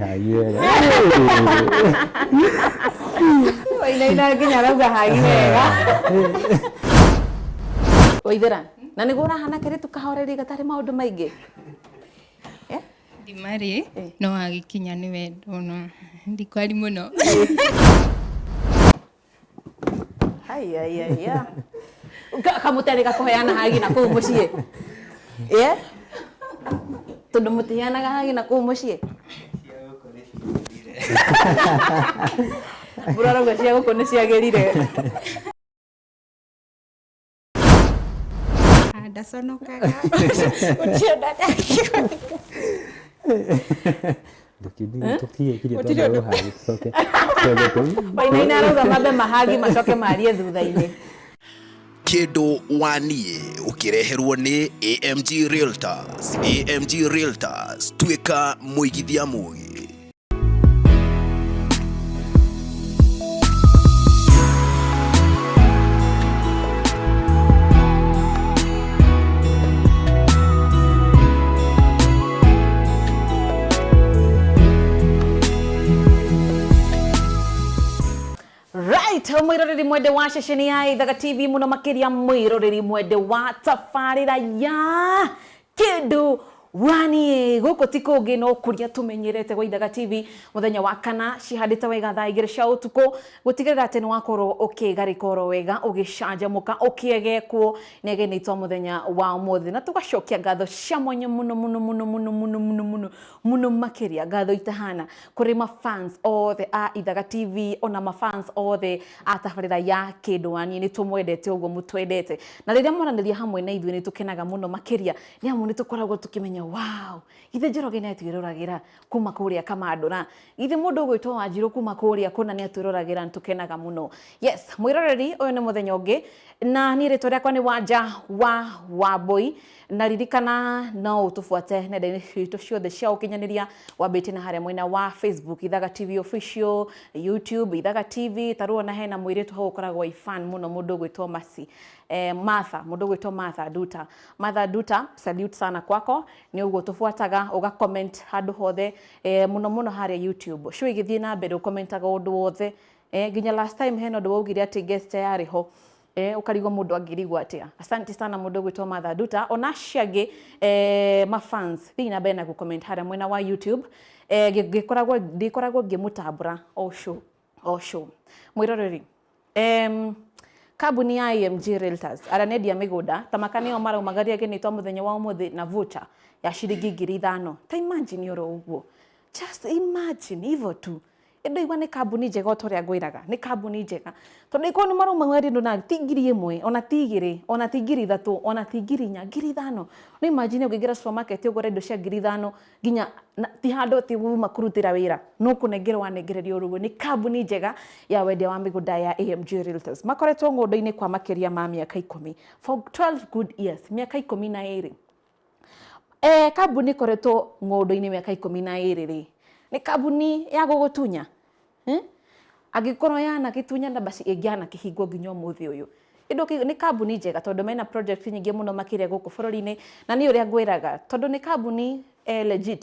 hagire wainaina nginya arauga hagi wega waithera na niguo ũrahana kĩrĩ tũkahoreri gatarĩ maũndũ maingĩ eh? ndimarĩ eh. no agĩkinya nĩ wendona ndikwari mũno Haya, haya, haya. Ka- kamutendeka kuheana hagi na kuu muciĩ Eh? tondũ mũtiheanaga hagi na kuu muciĩ burarauga cia gũkũ nĩ ciagĩrire Ah, ndaconokaga ũtionaga wainaina arauga mambe mahangi macoke marie thutha-inĩ kĩndũ waniĩ ũkĩreherwo nĩ amg realtors amg realtors tuĩka mũigithia mũgĩ right mwiroreri mwende wa ceceni ya ithaga tv muno makiria mwiroreri mwende wa tabarira ya Kĩndũ waniĩ gũkũ ti kũngĩ no kũrĩa tũmenyerete gwa Ithaga TV mũthenya wa kana cihandĩte wega thaa igĩrĩ cia ũtukũ gũtigĩrĩra atĩ nĩ wakorwo ũkĩgarĩka oro wega ũgĩcanjamũka ũkĩegekwo nĩ ageni aitũ a mũthenya wa ũmũthĩ na tũgacokia ngatho cia mwanya mũno mũno mũno mũno mũno mũno mũno Mũno makĩria ngatho itahana kũrĩ ma fans othe a Ithaga TV ona ma fans othe a tabarĩra ya Kĩndũanie nĩ tũmwendete ũguo mũtwendete na rĩrĩa mwaranĩria hamwe na ithuĩ nĩ tũkenaga mũno makĩria nĩ amu nĩ tũkoragwo tũkĩmenya wow githĩ Njoroge nĩ atwĩroragĩra kuma kũrĩa Kamandũra githĩ mũndũ ũgwĩtwo Wanjirũ kuma kũrĩa kũna nĩ atwĩroragĩra nĩ tũkenaga mũno yes mwĩroreri ũyũ nĩ mũthenya ũngĩ na niĩ rĩtwa rĩakwa nĩ Wanja wa Wambũi Na ririkana no ũtũbuate nenda-inĩ citũ ciothe cia ũkinyanĩria wambĩtie na harĩa mwena wa Facebook Ithaga TV Official, YouTube Ithaga TV, ta rĩu ona hena mũirĩtu hau ũkoragwo i fan mũno mũndũ ũgwĩtwo Mercy, eh, Martha, mũndũ ũgwĩtwo Martha Nduta. Martha Nduta, salute sana kwako, nĩ ũguo ũtũbuataga, ũga comment handũ hothe, eh, mũno mũno harĩa YouTube. Show igĩthiĩ na mbere ũkommentaga ũndũ wothe, eh, nginya last time hena ũndũ waugire atĩ guest yarĩ ho, Eh, ũkarigwo mũndũ angĩrigwo atĩa asanti sana mũndũ ũgwĩtwo matha nduta ona acio angĩ eh, mafans thiĩ na mbere na gũcomment harĩa mwena wa youtube eh, ngĩ- ngĩkoragwo ndĩkoragwo ngĩmũtambũra o show o show mwĩroreri em, kambuni ya AMG Realtors arĩa nendia mĩgũnda ta maka nĩo maraumagaria gĩnĩ twa mũthenya wa ũmũthĩ na voucher ya ciringi ngiri ithano ta imagine oro ũguo just imagine hivyo tu ĩ ndũigua nĩ kambuni njega o ta ũrĩa ngwĩraga nĩ kambuni njega tondũ ĩkorwo nĩ marauma mwendi ũndũ na ti ngiri ĩmwe ona ti igĩrĩ ona ti ngiri ithatũ ona ti ngiri inya ngiri ithano no imagine ũngĩingĩra supermarket ũgũre indo cia ngiri ithano nginya na- ti handũ atĩ uma kũrutĩra wĩra no kũnengerwo wanengererio ũru ũguo nĩ kambuni njega ya wendia wa mĩgũnda ya AMG Realtors makoretwo ng'ũndũ-inĩ kwa makĩria ma mĩaka ikũmi for 12 good years mĩaka ikũmi na ĩrĩ E, kambuni ĩkoretwo ng'ũndũ-inĩ mĩaka ikũmi na ĩrĩ rĩ nĩ kambuni ya gũgũtunya hmm? angĩkorwo yanagĩtunya na basi ĩngĩanakĩhingwo nginya ũmũthĩ ũyũ Ĩndũ kĩ- nĩ kambuni njega tondũ mena project nyingĩ mũno makĩria gũkũ bũrũri-inĩ na nĩ ũrĩa ngwĩraga tondũ nĩ kambuni eh, legit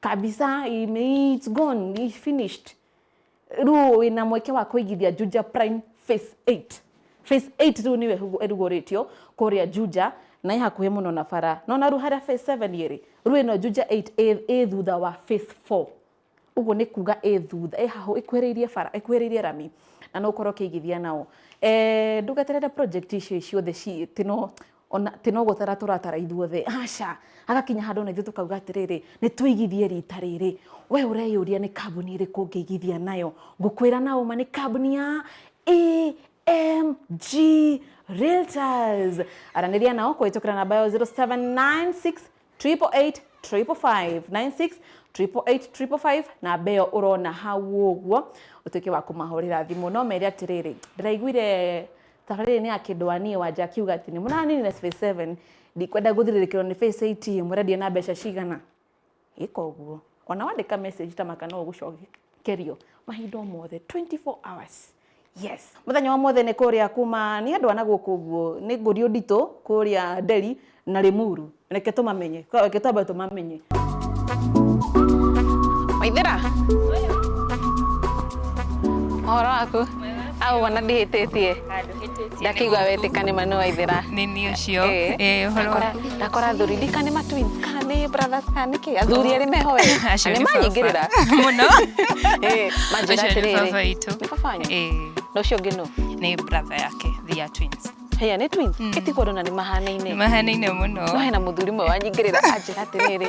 kabisa ime it's gone it's finished rĩu wĩna mweke wa kũigithia Juja Prime phase 8 phase 8 rĩu nĩyo ĩhugu- ĩrugũrĩtio kũrĩa Juja na ĩ hakuhĩ mũno na bara nona rĩu harĩa phase 7 ĩrĩ rĩu ĩno Juja 8 ĩ- ĩ thutha wa phase 4 ũguo nĩ kuga ĩ thutha ĩ hahũ ĩkuhĩrĩirie bara ĩkuhĩrĩirie rami na no ũkorwo ũkĩigithia nao Eh, ndũgeterere project icio ciothe ci- ti no ona atĩ no gũtara tũratara ithuothe, aca, hagakinya handũ ona ithuĩ tũkauga atĩrĩrĩ, nĩ tũigithie rita rĩrĩ. We ũreyũria nĩ kambuni ĩrĩkũ ũngĩigithia nayo, ngũkwĩra na ũma nĩ kambuni ya EMG Realtors. Aranĩria nao kũhĩtũkĩra namba yao 0796 triple eight triple five nine six triple eight triple five namba ĩyo ũrona hau ũguo ũtuĩke wa kũmahũrĩra thimũ no mere atĩrĩrĩ ndĩraiguire tabarĩrĩ nĩ ya kĩndũ wa niĩ wanja akiuga atĩ nĩ mũranine space 7 ndikwenda gũthirĩrĩkĩrwo nĩ face 8 mũrendia na mbeca cigana ĩka ũguo ona wandĩka message ta maka no ũgũcokerio mahinda o mothe 24 hours Yes. Mũthenya wa mwothe nĩ kũrĩa kuma nĩ andũ ana gũkũ ũguo nĩ ngũriũ nditũ kũrĩa Delhi na Limuru. Reke tũmamenye. Reke twambe tũmamenye. Waithira. Ũhoro waku? Agũkona ndihĩtĩtie. ndakigua wetĩka nĩ manu waithĩra nĩ niĩ ũcio Eh. Eh, ũhoro Ndakora- waku ndakora athuri ndika nĩ matwins kana nĩ brothers kana nĩ kĩ athuri erĩ meho we Acio nĩ nĩ baba. manyingĩrĩra mũno Eh, manjĩra Acio nĩ baba atĩrĩrĩ witũ. nĩ baba wanyu Eh, na ũcio ũngĩ nũ nĩ brother yake they are twins heya nĩ twins Mm. ĩtigwo ndona nĩ mahanaine mahanaine mũno no hena mũthuri mwe wanyingĩrĩra anjĩra atĩrĩrĩ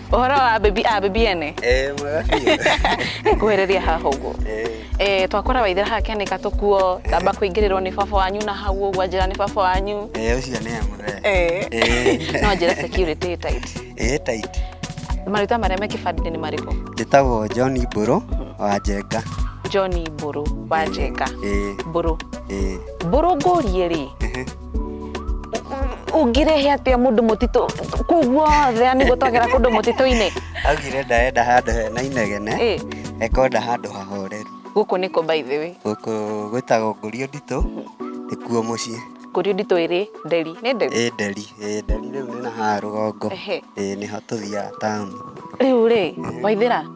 Ũhoro wa baby a baby ene. Eh, mwega biũ. Nĩngũhĩrĩria haha ũguo. Eh, Eh, twakora waithira haha kĩanĩka tũkuo, tamba kũingĩrĩrwo nĩ baba wanyu na hau ũguo njĩra nĩ baba wanyu. eh, ũcio nĩ amũre. Eh. Eh. No njĩra security tight. Eh, tight. Marĩtwa marĩa me kĩbandĩ nĩ marĩkũ? Njĩtagwo John Mbũrũ wa Njenga. John Mbũrũ wa Njenga. Eh, Mbũrũ. eh, Mbũrũ ngũrie rĩ, ehe. ũngĩrehe atĩa mũndũ mũtitũ kũu guothe yani gũtwagĩra kũndũ mũtitũ-inĩ augire ndaenda handũ hena inegene Ĩ, ekenda handũ hahoreru gũkũ nĩkũ by the way gũkũ gwĩtagwo ngũrio nditũ nĩkuo mũciĩ kũrĩ nditũ ĩrĩ nderi nĩ nderi ĩ nderi ĩ nderi rĩu nĩ na haha rũgongo Ehe. ĩ nĩho tũthiaga taũni rĩu rĩ waithĩra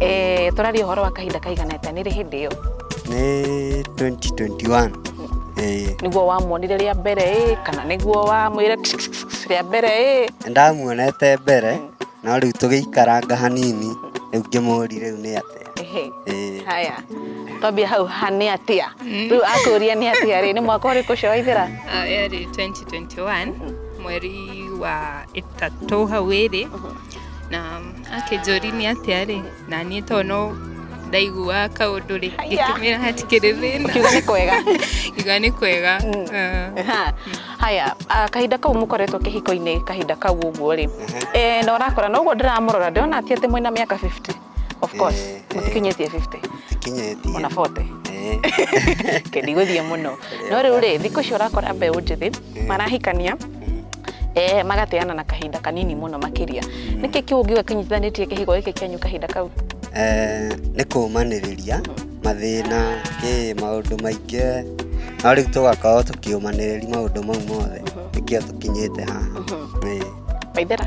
Eh, tũraria ũhoro wa kahinda kaigana atĩa nĩ rĩ hĩndĩ ĩyo nĩ 2021 Eh, nĩguo wamuonire rĩa mbere ĩ kana nĩguo wamwĩre rĩa mbere ĩ ndamuonete mbere no rĩu tũgĩikaranga hanini rĩu ngĩmũri rĩu nĩ atĩa Ehe. Eh, haya twambia hau ha nĩ atĩa rĩu akũria nĩ atĩa rĩ nĩ mwaka ũrĩkũ ũcio waithĩra Ah, yarĩ 2021 mweri wa ĩtatũ hau ĩrĩ na akĩnjũri nĩ atĩa rĩ na niĩ to no ndaiguaga kaũndũ rĩ ngĩkĩmĩra hatikĩrĩ thĩna kiuga nĩ kwega iga nĩ kwega Ah. Aha. haya ah, kahinda kau mũkoretwo kĩhiko-inĩ kahinda kau ũguo rĩ Eh, na ũrakora na ũguo ndĩramũrora ndĩrona ti atĩ mwĩna mĩaka 50 of course Eh, eh. mutikinyetie 50 tikinyetie ona 40 Eh, ndigũthiĩ mũno no rĩu rĩ thikũ icio ũrakora mbeũ njĩthĩ marahikania eh, magateana na kahinda kanini mũno makĩria nĩkĩ kĩu ũngiuga kĩnyitithanĩtie kĩhigo gĩkĩ kĩanyu kahinda kau eh, nĩ kũũmanĩrĩria mathĩna ĩ maũndũ maingĩ no rĩu tũgakorwo tũkĩũmanĩrĩria maũndũ mau mothe nĩkĩo tũkinyĩte haha Ĩ. maithera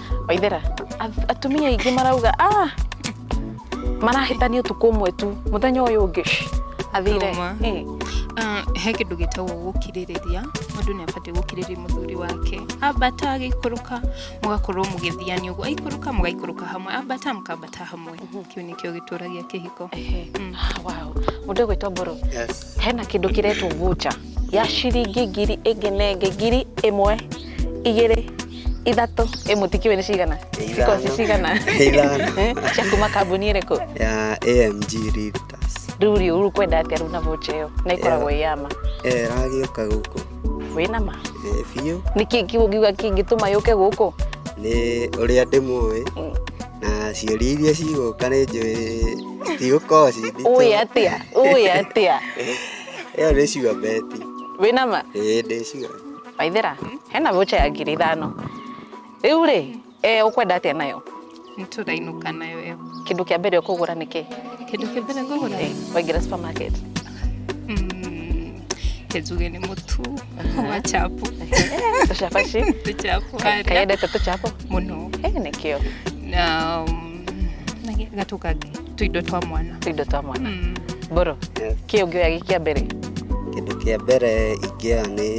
waithera ath- atumia aingĩ marauga ah marahĩtania ũtukũ ũmwe tu mũthenya ũyũ ũngĩ shh, athire Tũma. Eh, Ah, he kĩndũ gĩtagwo gũkirĩrĩria mũndũ nĩ abatiĩ gũkirĩrĩria mũthuri wake ambata agĩikũrũka mũgakorwo mũgĩthiania ũguo aikũrũka mũgaikũrũka hamwe ambata mũkambata hamwe kĩu nĩkĩo gĩtũragia kĩhiko ehe. Mm. Ah, wow. mũndũ ũgwĩtwo mboro Yes. hena kĩndũ kĩretwo voucher ya ciringi ngiri ĩngĩ nenge ngiri ĩmwe igĩrĩ ithatũ ĩ mũtikiwe nĩ cigana ciko ci cigana Eh, cia kuma kambuni ĩrĩkũ ya amg Realtors. rĩu rĩ rĩu kwenda atĩa rĩu na vocha ĩyo na ikoragwo ĩ yama Eh, ragĩũka gũkũ wĩ nama Eh, biũ nĩkĩ kiuga kĩngĩtũma yũke gũkũ nĩ ũrĩa ndĩmũĩ Mm. na ciũria iria cigũka nĩ njũĩ cigũkorwo ci nditũ. ũĩ atĩa ũĩ atĩa ĩyo nĩ ciũa beti wĩ nama ĩĩ ndĩ ciũa waithira hena voucher ya ngiri ithano riu ri eh, ukwenda atia nayo niturainũka nayo ĩyo kindu kia mbere ukugura niki kĩndũ kĩa mbere ngũgũra eh, waingira supermarket Mm, kĩnjuge nĩ mũtu wa chapo tucabaci tũchapo harĩa kayendete tucapo mũno eh, nikio na mm, na gĩ- gatũ kangĩ tũindo twa mwana tũindo twa mwana Mm. mboro Yes. kä å ngä oya gä kä a mbere kĩndũ kĩa mbere ingĩoya nĩ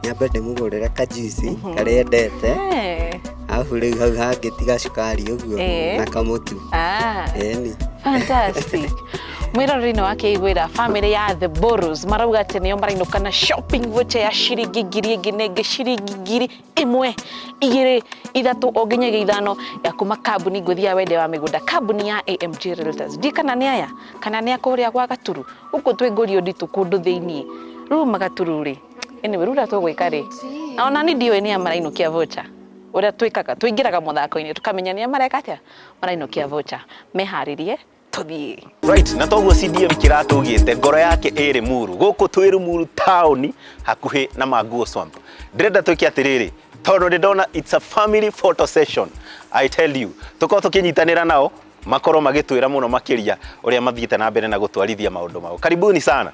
nyambe ndĩmũgũrĩre kajuici karĩa endete Eh, arabu rĩu hau hangĩ tiga cukari ũguo Eh. na kamũtu ah, eni fantastic mwĩroreri-inĩ wa kĩiguĩra bamĩrĩ ya the boros marauga atĩ nĩo marainũka na shopping voucher ya ciringi ngiri ĩngĩ nenge ciringi ngiri ĩmwe igĩrĩ ithatũ o nginyagia ithano ya kuma kambuni ngũthi ya wende wa mĩgũnda kambuni ya AMG Realtors ndiĩ kana nĩ aya kana nĩ akũrĩa gwa gaturu gũkũ twĩ ngũrio nditũ kũndũ thĩinĩ rĩu magaturu rĩ anyway rĩu ũrĩa tũgwĩka rĩ na ona nĩ ndiũĩ nĩ amarainũkia vocha ũrĩa twĩkaga tũingĩraga mũthako-inĩ tũkamenya nĩ mareka atĩa marainũkia vocha meharĩrie tũthiĩ right na toguo cdm kĩratũgĩte ngoro yake ĩrĩ muru gũkũ twĩ rumuru taũni hakuhĩ na manguo swamp ndĩrenda twĩke atĩrĩrĩ tondũ nĩ ndona it's a family photo session i tell you tũkorwo tũkĩnyitanĩra nao makorwo magĩtwĩra mũno makĩria ũrĩa mathiĩte na mbere na gũtwarithia maũndũ mao karibuni sana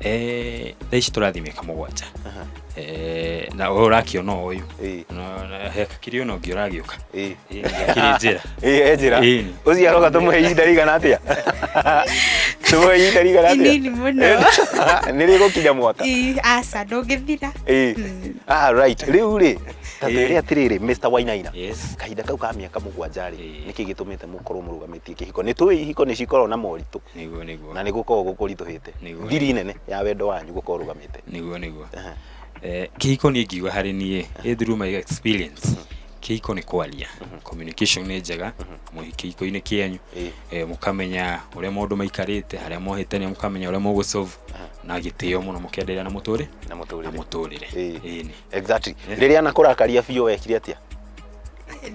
eh thaa ici tũrathiĩ mĩaka mũgwanja Aha. eh na ũyũ ũrakĩona o ũyũ Ĩĩ. No, na he kakiri ũno ũngĩ ũragĩũka Ĩĩ. Eh, gakĩrĩ njĩra Ĩĩ, e njĩra Ĩĩ. ũcio aroka tũmũhe ihinda rĩigana atĩa tũmũhe ihinda rĩigana atĩa Inini mũno. nĩ rĩgũkinya mwaka Ii, aca ndũngĩthira Ĩĩ. Mm. Ah, right rĩu rĩ ta Ĩĩ. twĩre atĩrĩrĩ Mr. Wainaina yes kahinda kau ka mĩaka mũgwanja rĩ Ĩĩ. nĩkĩ gĩtũmĩte mũkorwo mũrũgamĩtie kĩhiko nĩ tũĩ ihiko nĩ cikoragwo na moritũ nĩguo nĩguo na nĩ gũkorwo gũkũritũhĩte Nĩguo, ngiri nĩguo. nene ya wendo wanyu gũkorwo rũgamĩte nĩguo nĩguo Ehe. Eh, kĩhiko niĩ ngiuga harĩ niĩ ĩ through my experience kĩhiko nĩ kwaria communication nĩ njega mũhi kĩhiko-inĩ kĩanyu Ĩĩ. eh, mũkamenya ũrĩa maũndũ maikarĩte harĩa mohĩtania mũkamenya ũrĩa mũgũ solve na gĩtĩo mũno mũkenderea na mũtũrĩ na na mũtũrĩre mũtũrĩre Ĩĩ. Ĩĩ nĩ. exactly rĩrĩa anakũrakaria biũ wekire atĩa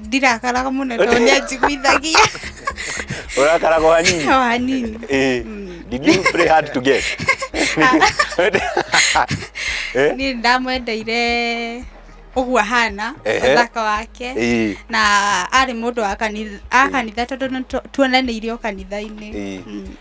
ndirakaraga mũno tondũ nĩ anjiguithagia Ũrakaraga o hanini. o hanini Eh, Did you pray hard to get? Eh? niĩ ndamwendeire ũguo ahana Ehe. ũthaka wake Eh. na arĩ mũndũ wa kanitha a kanitha tondũ nĩ tu- tuonanĩire o kanitha-inĩ Eh. Mm.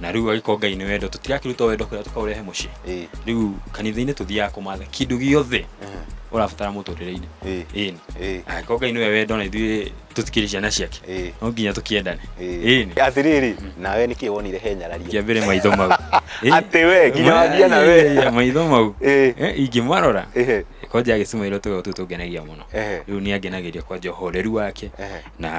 na rĩu agĩkorwo ngai nĩ wendo tũtirakĩruta wendo kũrĩa tũkaũrehe mũciĩ Ĩĩ. rĩu kanitha-inĩ tũthiaga kũmatha kĩndũ gĩothe ũrabatara mũtũrĩre-inĩ Ĩĩ. ĩni Ĩĩ. angĩkorwo ngai nĩwe wendo na ithuĩ tũtikĩrĩ ciana ciake Ĩĩ. no nginya tũkĩendane ĩni atirĩrĩ nawe nĩkĩ wonire he nyararia kĩambere maitho mau Ĩĩ. Atĩ we, nginya wambia na we. Ĩĩ, maitho mau Ĩĩ. Eh, ingĩmarora Ĩhĩ. kwanja agĩcimairwo tũgego tũu tũngenagia mũno Ehe. rĩu nĩ angenagĩria kwanja ũhoreru wake Ehe. na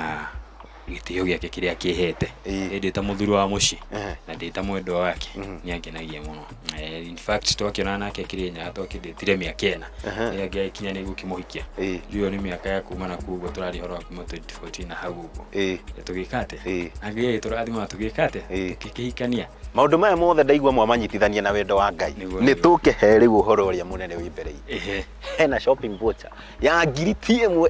gĩtĩo gĩake kĩrĩa akĩhete Ĩĩ. ĩndĩ ta mũthuri wa mũciĩ Ehe. na ndĩ ta mwendwa wake Mhm. nĩ angenagia mũno Eh, in fact twakĩonana nake kĩrĩnyaga twakĩndĩtire mĩaka ĩna Ehe. rĩrĩa ngĩakinya nĩ gũkĩmũhikia Ĩĩ. ndiũĩ nĩ mĩaka ya kuma na kuguo tũrarĩ horo wa kuma 2014 na hau ũguo Ĩĩ. Na tũgĩka atĩ Ĩĩ. angĩgĩ tũrathima na tũgĩka atĩ Ĩĩ. tũkĩhikania maũndũ maya mothe ndaigua mwamanyitithania na wendo wa ngai Nĩguo, nĩ nĩguo. tũkĩhe rĩu ũhoro ũrĩa mũnene wĩ mbere itũ. Ehe. hena shopping voucher ya ngiri ti ĩmwe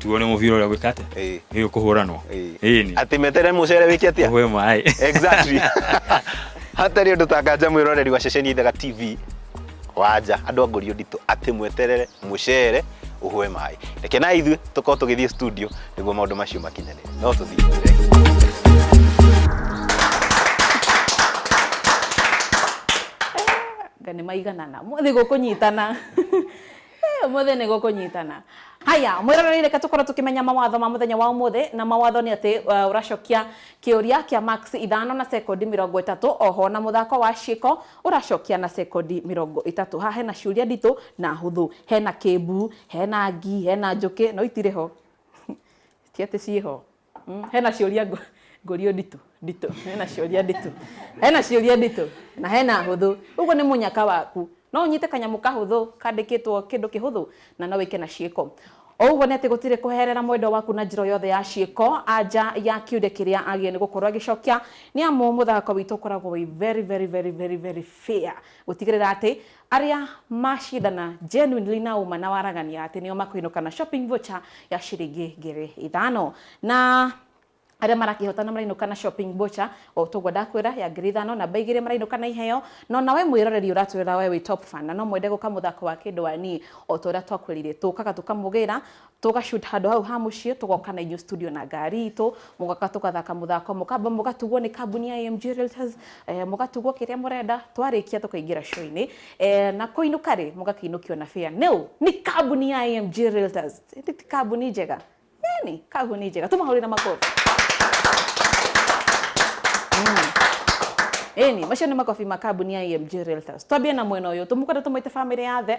tuone mũbira ũrĩa gwĩka atĩa Eh. ĩĩ ũkũhũranwo Eh. ĩni Atĩ metere mũcere wĩke atĩa? ũhwe maĩ Exactly. Hatarĩ ũndũ takanja mwĩroreri wa ceceni Ithaga TV wanja andũ a ngũrio nditũ atĩ mweterere mũcere ũhwe maĩ. Reke na ithuĩ tũkorwo tũgĩthiĩ studio nĩguo maũndũ macio makinyanĩre. No tũthiĩ. nga nä maiganana mothe gå kå nyitana Eh, Ũmũthĩ nĩ gũkũnyitana. Haya, mwĩroreire reke tũkorwo tũkĩmenya mawatho ma mũthenya wa ũmũthĩ na mawatho nĩ atĩ uh, ũracokia kĩũria kĩa marks ithano na sekondi mĩrongo ĩtatũ oho na mũthako wa ciĩko ũracokia na sekondi mĩrongo ĩtatũ haha hena ciũria nditũ na hũthũ hena kĩmbu hena ngi hena njũkĩ no itirĩ ho ti atĩ ciĩ ho Mm, hena ciũria ngũ- ngũrio nditũ nditũ hena ciũria nditũ hena ciũria nditũ na hena hũthũ ũguo nĩ mũnyaka waku no ũnyite kanyamũ kahũthũ kandĩkĩtwo kĩndũ kĩhũthũ na no wĩke na ciĩko o ũguo nĩ atĩ gũtirĩ kũherera mwendwa waku na njĩra o yothe ya ciĩko anja ya kiũria kĩrĩa agĩrĩire nĩ gũkorwo agĩcokia nĩ amu mũthako witũ ũkoragwo wĩ very very very very very fair gũtigĩrĩra atĩ Arĩa macindana genuinely na ũma na waragania atĩ nĩo makũinũka na shopping voucher ya ciringi ngiri ithano. Na arĩa marakĩhotana marainũka na shopping voucher o ta ũguo ndakwĩra ya ngiri ithano. Namba igĩrĩ marainũka na iheo. Na o na we mwĩroreri ũratwĩrora we wĩ top fan na no mwende gũka mũthako wa kĩndũ-a-niĩ o ta ũrĩa twakwĩrire tũkaga tũkamũgĩra tũgashoot handũ hau ha mũciĩ tũgoka na inyuĩ studio na ngari itũ mũgoka tũgathaka mũthako mũkamba mũgatugwo nĩ kambuni ya AMG Realtors eh, mũgatugwo kĩrĩa mũrenda twarĩkia tũkaingĩra show-inĩ eh, na kũinũka rĩ mũgakĩinũkio na fare nĩũ nĩ kambuni ya AMG Realtors Ĩndĩ ti kambuni njega yani kambuni njega tũmahũrĩre makofi Eni, macio nĩ makobi ma kambuni ya AMG Realtors. Twambie na mwena ũyũ, tũmũkwenda tũmwĩte family ya the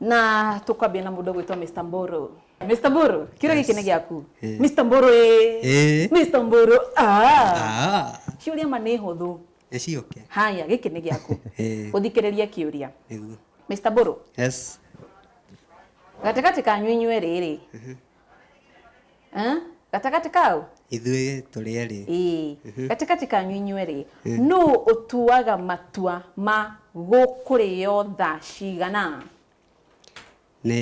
na tukwambia na mundu gwitwa Mr Mburu Mr Mburu kira giki ni giaku Mr Mburu eh Eh. Mr Mburu ah Ah, ciuria ma ni huthu eci oke. haya giki ni giaku Eh. uthikiriria kiuria Nĩguo. Mr Mburu Yes. gatigati kanyu inyuĩ rĩrĩ Eh? gatagatĩ kau ithuĩ tũrĩ erĩ Ĩĩ. Mhm. gatagatĩ kanyu inyuĩ rĩ Mm. nũ ũtuaga matua ma gũkũrĩo thaa cigana nĩ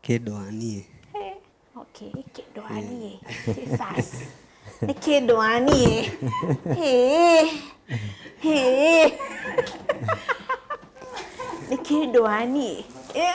kĩndũ wa niĩ Eh, okay, kĩndũ wa niĩ Jesus. nĩ kĩndũ wa niĩ Ĩĩ. Ĩĩ. nĩ kĩndũ wa niĩ Eh,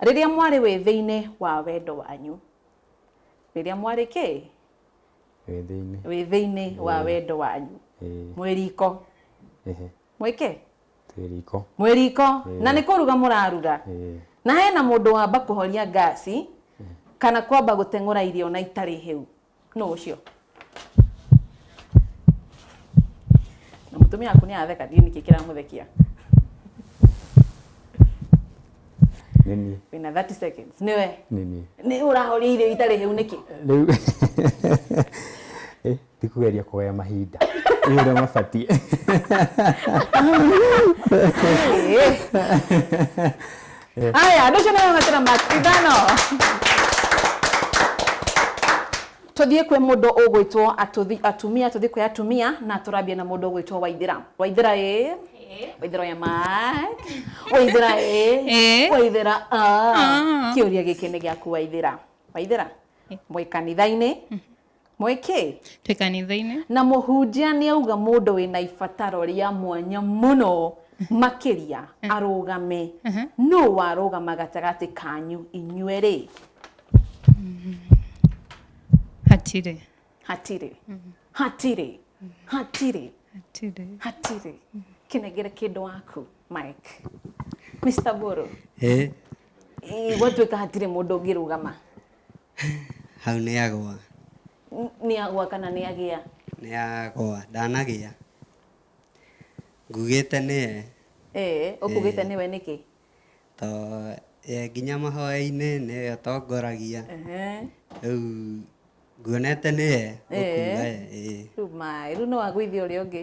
Rĩrĩa mwarĩ wĩthĩ-inĩ wa wendo wanyu. Rĩrĩa mwarĩ kĩ? Wĩthĩ-inĩ. Wĩthĩ-inĩ wa wendo wanyu. Mwĩ riko. Mwĩ kĩ? Twĩ riko. Mwĩ riko. Na nĩ kũruga mũraruga. Na hena mũndũ wamba kũhoria ngaci, kana kwamba gũteng'ũra irio na itarĩ hĩu. nũ ũcio na mũtumia waku nĩ atheka ndiũ nĩkĩ kĩramũthekia nĩ niĩ wĩna 30 seconds nĩwe nĩ niĩ nĩ ũrahoria irio itarĩ hĩu nĩkĩ rĩu Eh, ti kũgeria kũgaya mahinda ĩ ũrĩa mabatiĩ Ĩĩ. Eh. Ah ya, ndugu na mama tena Mark Ivano. Tuthie kwe mundu ugwitwo atuthi atumia tuthie kwe atumia na turabia na mundu ugwitwo Waithira. Waithira eh. Waithira ya Mark. Waithira eh. Eh. Waithira ah. Ah. Kiuria giki ni giaku Waithira. Waithira. Mwi kanitha-ini mwĩkĩ twĩ kanitha-inĩ na mũhunjia nĩ auga mũndũ wĩna ibataro rĩa mwanya mũno makĩria eh. arũgame eh. nũ warũgama gatagatĩ kanyu inyuĩ rĩ mm-hmm. hatirĩ hatirĩ mm-hmm. hatirĩ mm-hmm. hatirĩ hatirĩ hatirĩ kĩnengere kĩndũ waku mike mr boro eh. gwatuĩka hatirĩ mũndũ ũngĩrũgama Hau nĩ agũa. Nĩ agũa kana nĩ agĩa? Nĩ agũa, ndanagĩa. Ngugĩte nĩye. Ee, ũkugĩte nĩwe nĩkĩ? To ye nginya mahoya-inĩ nĩwe ũtongoragia. Rĩu nguonete nĩye ũkuga ye. Rĩu maĩ, rĩu no agũithie ũrĩa ũngĩ?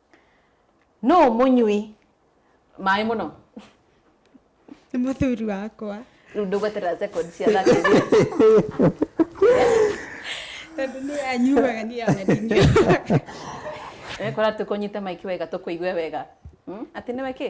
Nũ mũnyui maĩ mũno? Nĩ mũthuri wakwa. Rĩu ndũgweterera second cia thate Tondũ nĩ anyuaga nĩ yaga ndinyuaga. Ekora tũkũnyite maiki wega tũkũigue wega. Hmm? Atĩ nĩwe kĩ?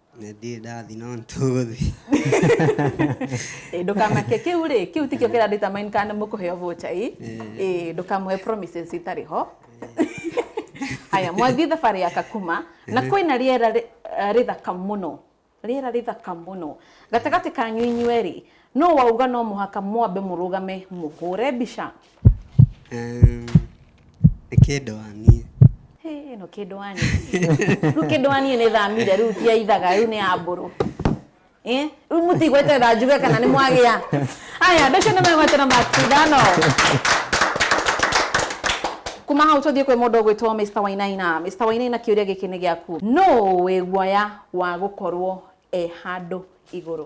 ndirĩ ndathi no nĩtũgũthi Ĩ, ndũkamake kĩu rĩ kĩu tikĩo kĩra determine kana nĩ mũkũheo vocha ĩ Ĩ, ndũkamũhe promises itarĩ ho haya mwathiĩ thabarĩ ya kakuma na kwĩna rĩera rĩ- eh, rĩthaka mũno rĩera rĩthaka mũno gatagatĩ kanyu inyuerĩ Nũ wauga no mũhaka mwambe mũrũgame mũhũre mbica? Um, nĩ kĩndũ wa niĩ Hey, ĩno kĩndũ wa niĩ rĩu kĩndũ wa niĩ nĩ thamire rĩu ti ya ithaga rĩu nĩ ya mbũrũ Eh, rĩu mũtigweterera njuge kana nĩ mwagĩa aya andũ acio nĩ megwetera maki ithano kuma hau tũthiĩ kwĩ mũndũ ũgwĩtwo Mr. Wainaina Mr. Wainaina kĩũria gĩkĩ nĩ gĩaku nũ wĩ guoya wa gũkorwo e handũ igũrũ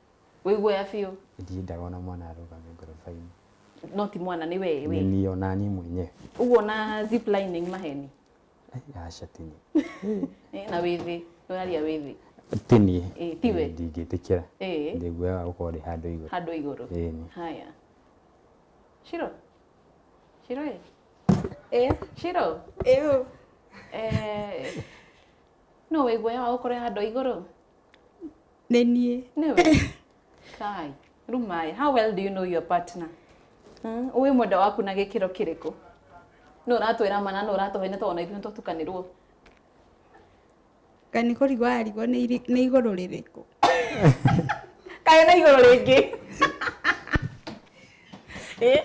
Wĩguoya biũ. Ndiendaga ona mwana arũgame ngoroba-inĩ. No ti mwana nĩ wee we. Nĩ niĩ ona niĩ mwenyewe. Ũguo na zip lining maheni. Eh, aca ti niĩ. Eh, na wĩ thĩ. Ũraria wĩ thĩ. Ti niĩ. Eh, ti we. Ndingĩtĩkĩra. Eh. Ndĩguoyaga gũkorwo ndĩ handũ igũrũ. Handũ igũrũ. Eh. Haya. Shiro. Shiro ĩ. Eh. Shiro. Eh. Eh. No wĩguoya wa gũkorwo handũ igũrũ? nĩ niĩ Nĩwe? Kai, Rumai, how well do you know your partner? Hmm? Ũĩ mwenda waku na gĩkĩro kĩrĩkũ? Nũ ũratwĩra mana, nũ ũratũhe nĩ twana ithuĩ tũtukanĩrwo. Ngai nĩ kũrigwo arigwo nĩ iri- nĩ igũrũ rĩrĩkũ Kaĩ na igũrũ rĩngĩ. Eh?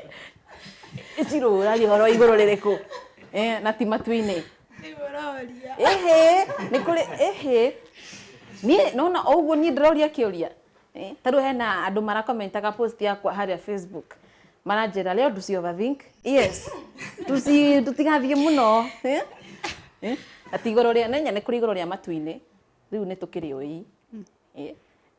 Ĩcirũra rĩhoro igũrũ rĩrĩkũ? Eh, na ti matu-inĩ. nĩmũroria ĩhĩ nĩ kũrĩ ĩhĩ niĩ nona o ũguo niĩ ndĩroria kĩũria Eh, ta rĩu hena andũ marakomentaga post yakwa harĩa facebook maranjĩra leo tusi overthink yes tusi tutigathiĩ mũno Eh? Eh? ati igũrũ rĩa nenya nĩ kũrĩ igũrũ rĩa matu-inĩ rĩu nĩ tũkĩrĩ ũi Eh?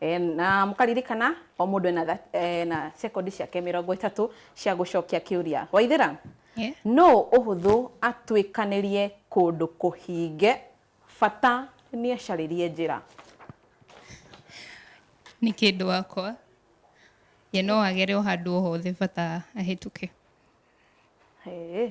E, na mũkaririkana o mũndũ ena, tha- e, na sekondi ciake mĩrongo ĩtatũ cia gũcokia kĩũria waithĩra Yeah. no ũhũthũ atuĩkanĩrie kũndũ kũhinge bata nĩ acarĩrie njĩra nĩ kĩndũ wakwa ye no agere o handũ o hothe bata ahĩtũke Hey.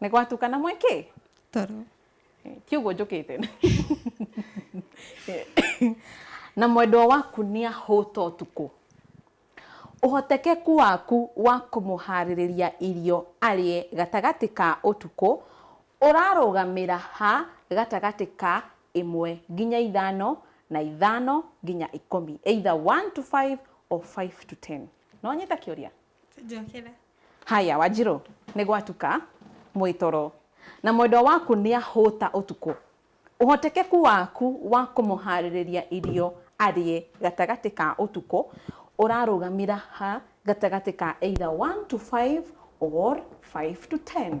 Nĩ gwatukana mwĩkĩ? Toro. Ti ũguo njũkĩte. Na mwendwa waku nĩ ahũta ũtukũ. Ũhotekeku waku wa kũmũharĩrĩria irio arĩe gatagatĩ ka ũtukũ ũrarũgamĩra ha gatagatĩ ka ĩmwe nginya ithano na ithano nginya ikũmi, either one to five or five to ten. Nĩ wanyita kĩũria? Njokera. Haya, Wanjirũ, nĩ gwatuka, mwĩ toro, na mwendwa waku nĩ ahũta ũtukũ. Ũhotekeku waku wa kũmũhaarĩrĩria irio arĩe gatagatĩ ka ũtukũ ũrarũgamĩra ha gatagatĩ ka either one to five or five to ten?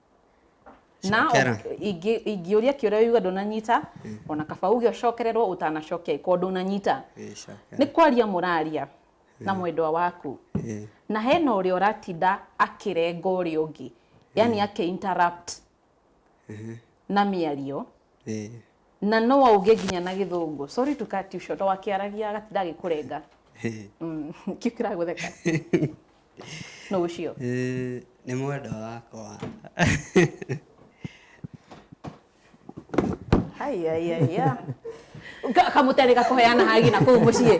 na Cokera. o- ingĩ- ingĩũria kĩũria yuga ndũnanyita ona kaba uge ũcokererwo ũtanacokia ĩkorwo ndũnanyita Eh, cokera. nĩ kwaria mũraria na mwendwa waku Eh, na hena ũrĩa ũratinda akĩrenga ũrĩa ũngĩ yani ake interrupt na mĩario eh, Na no auge nginya na gĩthũngũ. Sorry to cut you short. O akĩaragia agatinda agĩkũrenga. Mm, Kĩu kĩragũtheka. Nũ ũcio? Eh, nĩ mwenda wakwa Ai, ai, ai, ya. Ka- Kamũtĩ arĩ gakũheana hagi na kũu mũciĩ.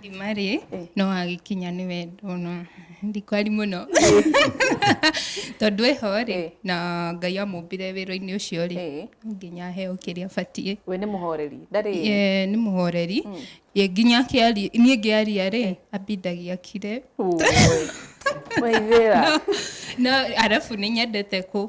ndima rĩ eh. no agĩkinya nĩ wendo no ndikwari mũno tondũ ĩho rĩ eh. na ngai amũmbire wĩra-inĩ ũcio rĩ eh. nginya heo kĩrĩa abatiĩ we nĩ mũhoreri ndarĩ nĩ mũhoreri hmm. ye nginya kĩari niĩ ngĩaria rĩ ambindagia kire waithĩra no arabu nĩ nyendete kũ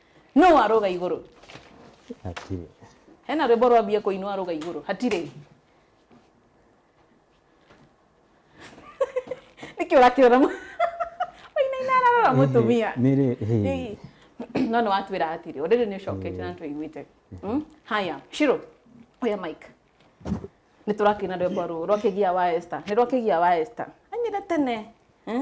No aroga iguru. Hatirĩ. Hena rwimbo rwambia kuinwa aroga iguru. Hatirĩ. Niki urakirora mu. Waina ina ararora mutumia. Nĩrĩ. hĩ. Ĩĩ. No nĩ watwĩra hatirĩ. Ũrĩrĩ nĩ ũcokete na tũiguĩte. Mm? Haya, Shiro. Oya mic. Nĩ tũrakĩina rwĩmbo rũrũ rwa kĩgia wa Esther. Nĩ rwa kĩgia wa Esther. Anyire tene. Eh?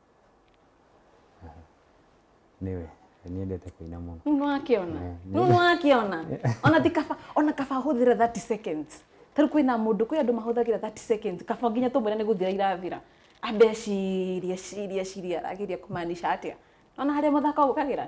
Nĩwe. Nĩendete kũina mũno. Rĩu nĩwakĩona Eh, nĩ- rĩu nĩwakĩona ona ti kaba ona kaba ahũthĩre 30 seconds tarĩu kwĩna mũndũ kwĩ andũ mahũthagĩra 30 seconds kaba nginya tũmwĩre nĩ gũthira irathira ambe ecirie ecirie ecirie arageria kũmaanisha atĩa ona harĩa mũthako ũkagĩra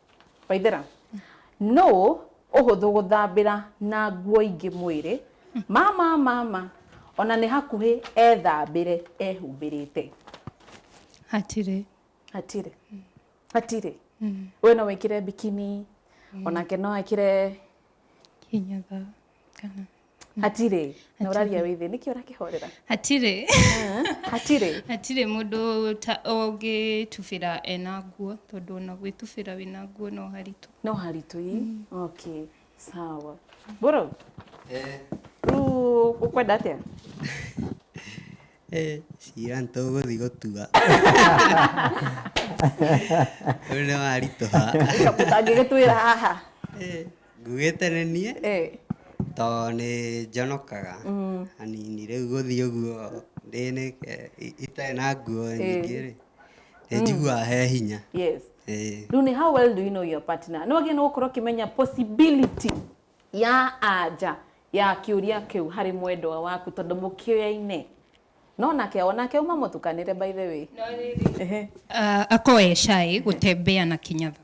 Waithera, nũ ũhũthũ gũthambĩra na nguo ingĩ mwĩrĩ? Mama, mama, ona nĩ hakuhĩ ethambĩre ehumbĩrĩte. Hatirĩ. Hatirĩ. Hatirĩ. We no wĩkĩre bikini, onake no ekĩre Kinyatha. Kana- hatirĩ na ũraria wĩ thĩ nĩkĩ ũrakĩhorera hatirĩ hatirĩ hatirĩ mũndũ ta- ũngĩtubĩra ena nguo tondũ ona gwĩtubĩra wĩna nguo no haritũ no haritũ ii okay sawa bro Eh, rĩu ũkwenda atĩa eh, cira nĩ tũgũthiĩ gũtua ũyũ nĩ waritũha ũtangĩgĩtwĩra haha Nguĩte nĩ niĩ to nĩ njonokaga hanini rĩu gũthiĩ ũguo itarĩ na nguo nyingĩ rĩ nĩ njiguaga he hinya. Rĩu nĩ how well do you know your partner? Nĩ wagĩrĩirwo nĩ gũkorwo ũkĩmenya possibility ya anja ya kĩũria kĩu harĩ mwendwa waku tondũ mũkĩoyaine. No nake o nake auma mũtukanĩre by the way. Ako e shy gũtembea na kĩnyatha.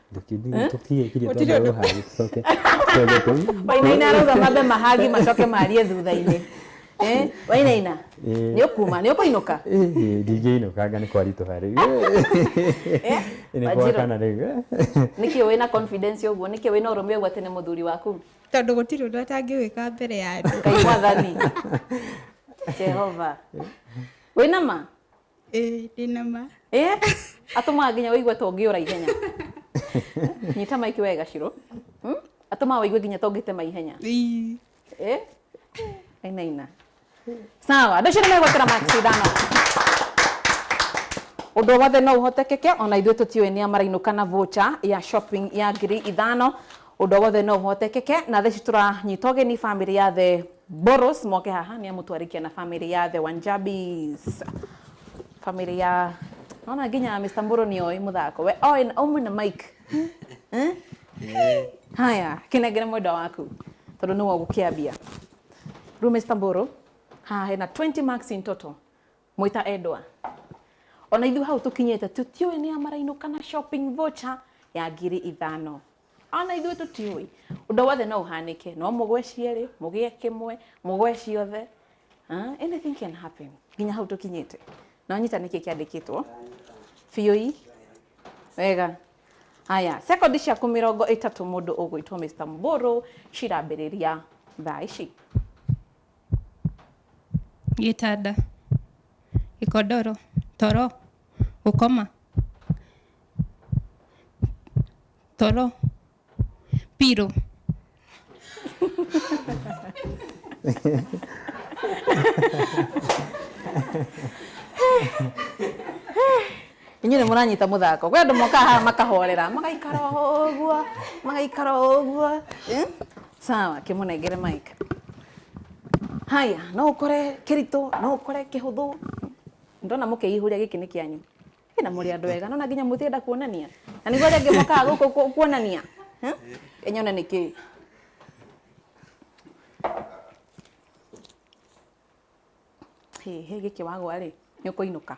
Eh? Gũtirĩ ũndũ- wainaina arauga mambe mahagi macoke marie thutha-inĩ Eh, wainaina Eh. nĩ ũkuma nĩ ũkũinũka ndingĩinũkanga nĩ kwaritũha rĩu Eh, nĩ Wanjirũ, gwakana rĩu eh. nĩkĩ wĩ na confidence ũguo nĩkĩ wĩ na ũrũme ũguo atĩ nĩ mũthuri waku tondũ gũtirĩ ũndũ atangĩwĩka mbere ya andũ ngai mwathani jehova wĩ na ma ĩĩ ndĩna ma Eh, atũmaga nginya wĩigue ta ũngĩũra ihenya nyita maiki wega ciro Hmm? atũmaga wĩigue nginya ta ũngĩtema ihenya Ii. Eh? aina ina sawa andå acio nä megwatera macindano å ndå wothe no å hotekeke ona ithuä tå tiå nä amarainå kana vocha ya shopping ya ngiri ithano Ũndũ o wothe no ũhotekeke na thaa ici tũranyita ũgeni family ya the Boros moke haha nĩ amu twarĩkia na family ya the Wanjabis family ya naona nginya Mr. Mbũrũ nĩ oĩ mũthako we oĩ na ũmwe na Mike Eh? haya kĩnengere mwenda waku tondũ nĩwe ũgũkĩambia rĩu Mr. Mbũrũ haha hena 20 marks in total Mwĩ ta endwa. Ona ithuĩ hau tũkinyĩte tũtiũĩ nĩ ya marainũ kana shopping voucher ya ngiri ithano. Ona ithuĩ tũtiũĩ. Ũndũ wothe no ũhanĩke. No mũgwe cierĩ, mũgĩe kĩmwe, mũgwe ciothe. Ah, Anything can happen. Nginya hau tũkinyĩte. Na ũnyita nĩkĩ kĩandĩkĩtwo. Biũi. Wega. Haya, sekondi ciaku mĩrongo ĩtatũ mũndũ ũgwĩtwo Mr. Mbũrũ cirambĩrĩria thaa ici. gĩtanda, gĩkondoro, toro, gũkoma, toro, pillow. inyuĩ nĩ mũranyita mũthako kwĩ andũ mokaga haha makahorera magaikara ũguo magaikara ũguo eh? sawa kĩmũnengere mike haya no ũkore kĩritũ no ũkore kĩhũthũ ndona mũkĩihũria gĩkĩ nĩ kĩanyu na mũrĩ andũ ega nona nginya mũtienda kuonania na nĩguo rĩngĩ mokaga gũkũ kuonania eh? enyone nĩ kĩĩ hä gä kä wagwa rä nä å kå inå ka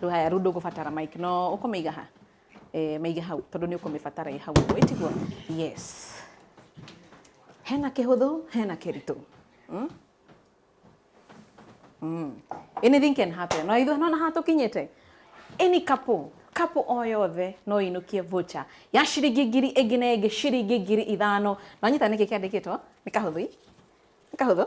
Rĩu haya, rĩu ndũgũbatara mic. No ũkũmĩiga ha? Eh, mĩige hau tondũ nĩ ũkũmĩbatara ĩ hau ũguo ĩtiguo yes hena kĩhũthũ hena kĩritũ mm? Mm. anything can happen no ithuĩ nona haha tũkinyĩte any couple couple o yothe no ĩinũkie voucher ya ciringi ngiri ĩngĩ na ĩngĩ ciringi ngiri ithano na nyita nĩkĩ kĩandĩkĩtwo nĩ kahũthũ i? nĩ kahũthũ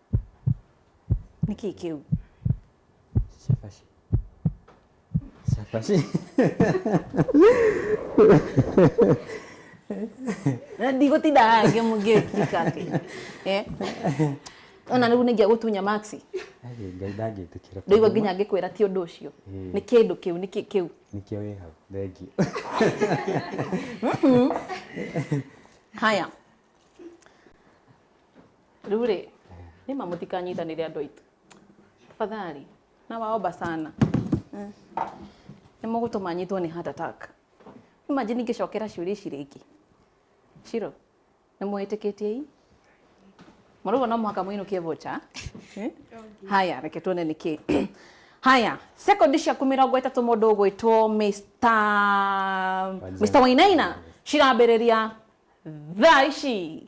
Nĩ kĩĩ kĩu? Cabaci. Cabaci. Na ndigũtinda haha ngĩ- ngĩkika atĩ eh? ona rĩu nĩ ngĩagũtunya maxi Aĩ, Ngai ndangĩtĩkĩra. ndũigua nginya ngĩkwĩra ti ũndũ ũcio Mm. nĩ kĩndũ kĩu nĩ kĩĩ kĩu Nĩkĩo wĩ hau. Thengiũ. haya Rĩu rĩ, nĩma mũtikanyitanĩre andũ aitũ. Tafadhali, nawaomba sana. Mm. Nĩ mũgũtũma nyitwo nĩ heart attack. Imagine ingĩcokera ciũria ici rĩngĩ. Shiro, nĩ mwĩtĩkĩtie i? Mũrũgo no mũhaka mũinũkie vocha. Eh? Haya, reke tuone nĩ kĩ. Haya, sekondi ciaku mĩrongo ĩtatũ mũndũ ũgwĩtwo Mr. Mr. Wainaina cirambĩrĩria thaa ici.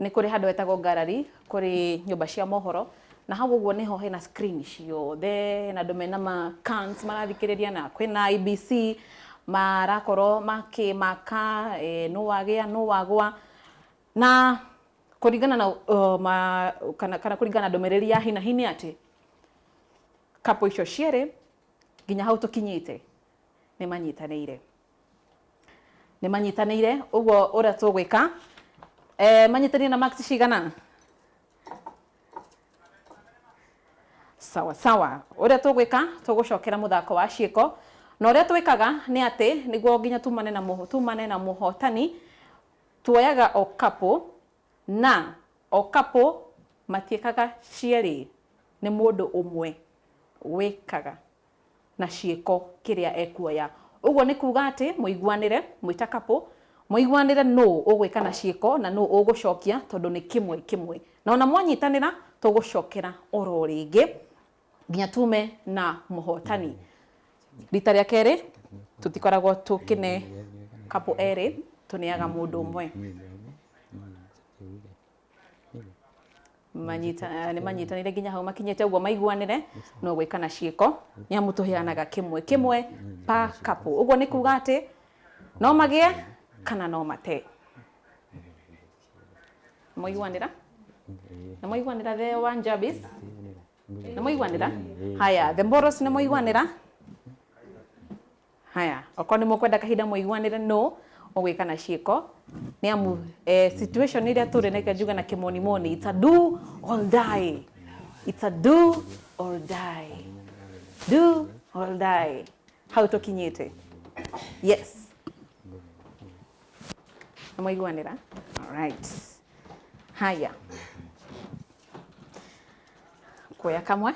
nĩ kũrĩ handũ hetagwo gallery kũrĩ nyũmba cia mohoro na hau ũguo nĩho hena screen ciothe hena andũ mena ma cans marathikĩrĩria na kwĩna IBC marakorwo makĩmaka eh, nũ wagĩa nũ wagwa na kũringana na uh, ma, kana, kana kũringana na ndũmĩrĩri ya hinahi nĩ atĩ kapo icio cierĩ nginya hau tũkinyĩte nĩ manyitanĩire nĩ manyitanĩire ũguo ũrĩa tũgwĩka eh, manyitanĩire na max cigana sawa sawa ũrĩa tũgwĩka tũgũcokera mũthako wa ciĩko na ũrĩa twĩkaga nĩ atĩ nĩguo nginya tumane na mũho tumane na mũhotani tuoyaga o kapũ na o kapũ matiĩkaga cierĩ nĩ mũndũ ũmwe wĩkaga na ciĩko kĩrĩa ekuoya. Ũguo nĩ kuuga atĩ mũiguanĩre mwĩ ta couple, mũiguanĩre nũũ ũgwĩka na ciĩko na nũũ ũgũcokia tondũ nĩ kĩmwe kĩmwe. Na ona mwanyitanĩra tũgũcokera oro rĩngĩ nginya tume na mũhotani. Rita rĩa kerĩ tũtikoragwo tũkĩne couple erĩ, tũneaga mũndũ ũmwe. manyita- nĩ manyitanĩire nginya hau makinyĩte ũguo maiguanĩre no gwĩka na ciĩko nĩ amu tũheanaga kĩmwe kĩmwe pa kapũ ũguo nĩ kuga atĩ no magĩe kana no mate mwaiguanĩra nĩ mwaiguanĩra the one jabis nĩ mwaiguanĩra haya the moros nĩ mwaiguanĩra Haya, okorwo nĩ mũkwenda kahinda mũiguanĩre nũ ũgwĩka na ciĩko nĩ amu eh, situation ĩrĩa tũrĩ nĩkĩo njuga na kĩmonimoni it's a do or die it's a do or die do or die hau tũkinyĩte yes nĩ mwaiguanĩra alright haya kuoya kamwe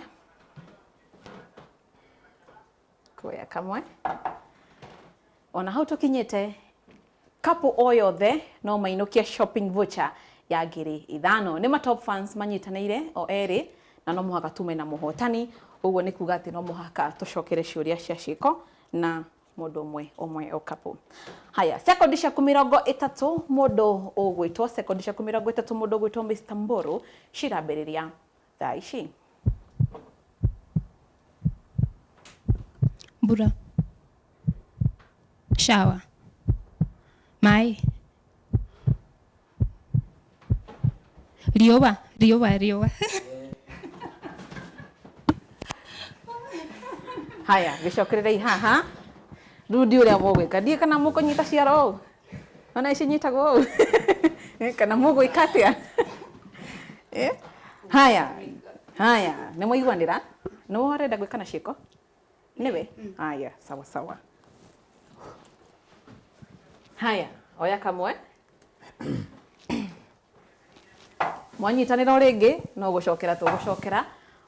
tuoya kamwe ona hau tukinyite kapu o yothe no mainukie shopping voucher ya ngiri ithano nĩ ma top fans manyitanĩire o erĩ na no mũhaka tume na mũhotani ũguo nĩ kuga atĩ no mũhaka tũcokere ciũria cia ciĩko na mũndũ ũmwe ũmwe o kapu haya sekondi ciaku mĩrongo ĩtatũ mũndũ ũgwĩtwo sekondi ciaku mĩrongo ĩtatũ mũndũ ũgwĩtwo Mr. Mbũrũ cirambĩrĩria Daishi. Mbura. Shower. Maĩ. Riũa, riũa, riũa. haya gĩcokererei haha rĩu ndiũ ũrĩa mũgwĩka ndiĩ kana mũkũnyita ciara ũũ ona ici nyitagwo ũũ Eh, kana mũgwĩka atĩa Eh, haya haya nĩ mwaiguanĩra nĩ warenda gwĩka na ciĩko nĩwe haya sawa sawa haya oya kamwe mwanyitanĩra o rĩngĩ no gũcokera tũgũcokera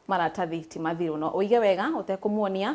maratathi ti mathiru no ũige wega ũtekũmuonia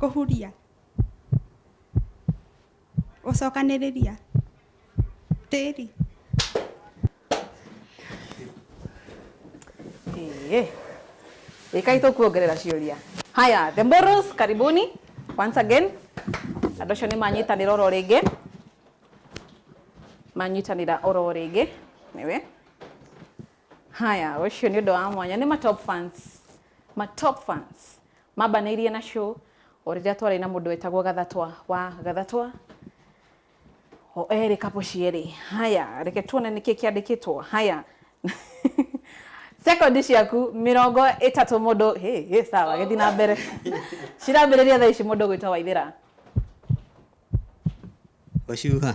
kũhuria gũcokanĩrĩria tĩri Eh. Ikai tukuongerera ciuria. Haya, the Mboros karibuni once again. Andũ acio nĩ manyitanĩra oro rĩngĩ. Manyitanĩra oro rĩngĩ. Nĩwe. haya ũcio nĩ ũndũ wa mwanya nĩ ma top fans ma top fans mambanĩirie na show o rĩrĩa twarĩ na mũndũ wetagwo gathatwa wa gathatwa o erĩ kapo cierĩ haya reke tuone nĩkĩ kĩandĩkĩtwo haya sekondi ciaku mĩrongo ĩtatũ mũndũ hĩ hĩ sawa gĩthi na mbere cirambĩrĩria thaa ici mũndũ gwĩtwo waithĩra Wacuha.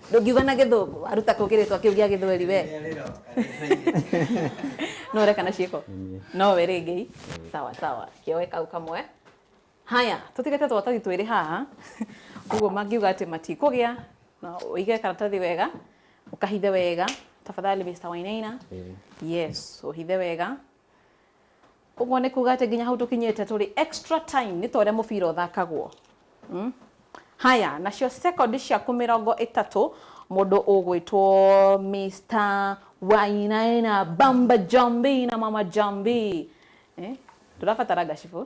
Ndũngiuga na gĩthũngũ, waruta kũ kĩrĩtwa kĩu gĩa gĩthweri we? No ũreka na ciĩko? No we rĩngĩ. Sawa sawa, kĩoe kau kamwe. Haya, tũtigĩte tũratathi twĩrĩ haha. Ũguo mangiuga atĩ matikũgĩa, na ũige karatathi wega, ũkahithe wega. Tafadhali Mr. Wainaina. Yes, ũhithe wega. Ũguo nĩ kuga atĩ nginya hau tũkinyĩte tũrĩ extra time nĩ ta ũrĩa mũbira ũthakagwo. Hmm? Haya, nacio second ciaku mĩrongo ĩtatũ mũndũ ũgwĩtwo Mr. Wainaina Bamba Jambi na Mama Jambi. Eh? Ndũrabatara gacibũ.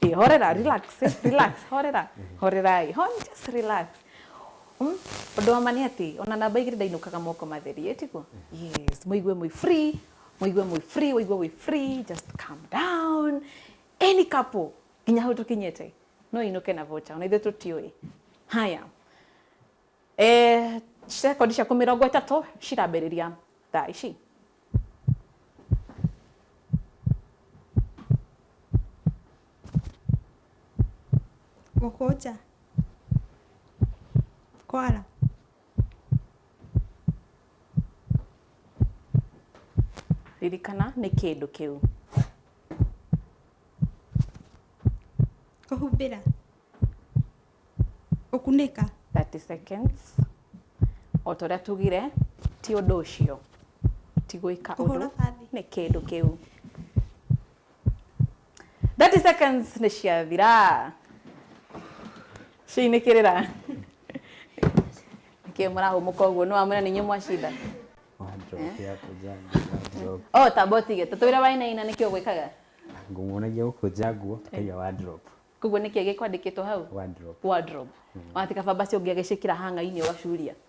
Ĩ, horera, relax, eh, relax, horera, horerai, ho, just relax. Mm? Ũndũ wa ma nĩ atĩ ona namba igĩrĩ ndainũkaga moko matheri, ĩ tiguo? Yes, mũigue mwĩ free, mũigue mwĩ free ũigue wĩ free just calm down any couple nginya hau tũkinyĩte no inũke na vocha ona ithuĩ tũtiũĩ haya eh, sekondi ciaku mĩrongo ĩtatũ cirambĩrĩria thaa ici gũkũ nja kwara Ririkana nĩ kĩndũ kĩu. Kũhumbĩra. Gũkunĩka. 30 seconds. O ta ũrĩa tugire, ti ũndũ ũcio. Ti gwĩka ũndũ. Nĩ kĩndũ kĩu. 30 seconds nĩ ciathira ciinĩkĩrĩra nĩkĩ mũrahũmũka ũguo nĩ wamwĩra nĩ inyuĩ mwacinda wanjokia kũnja wardrobe o tamba ũtige tũtwĩre wainaina nĩkĩ ũgwĩkaga ngũmuonagia gũkũnja nguo tũkaiga wardrobe koguo nĩkĩ gĩkwandĩkĩtwo hau wardrobe wardrobe wati kabamba cio ũngĩagĩcĩkĩra hanga-inĩ ũgacuria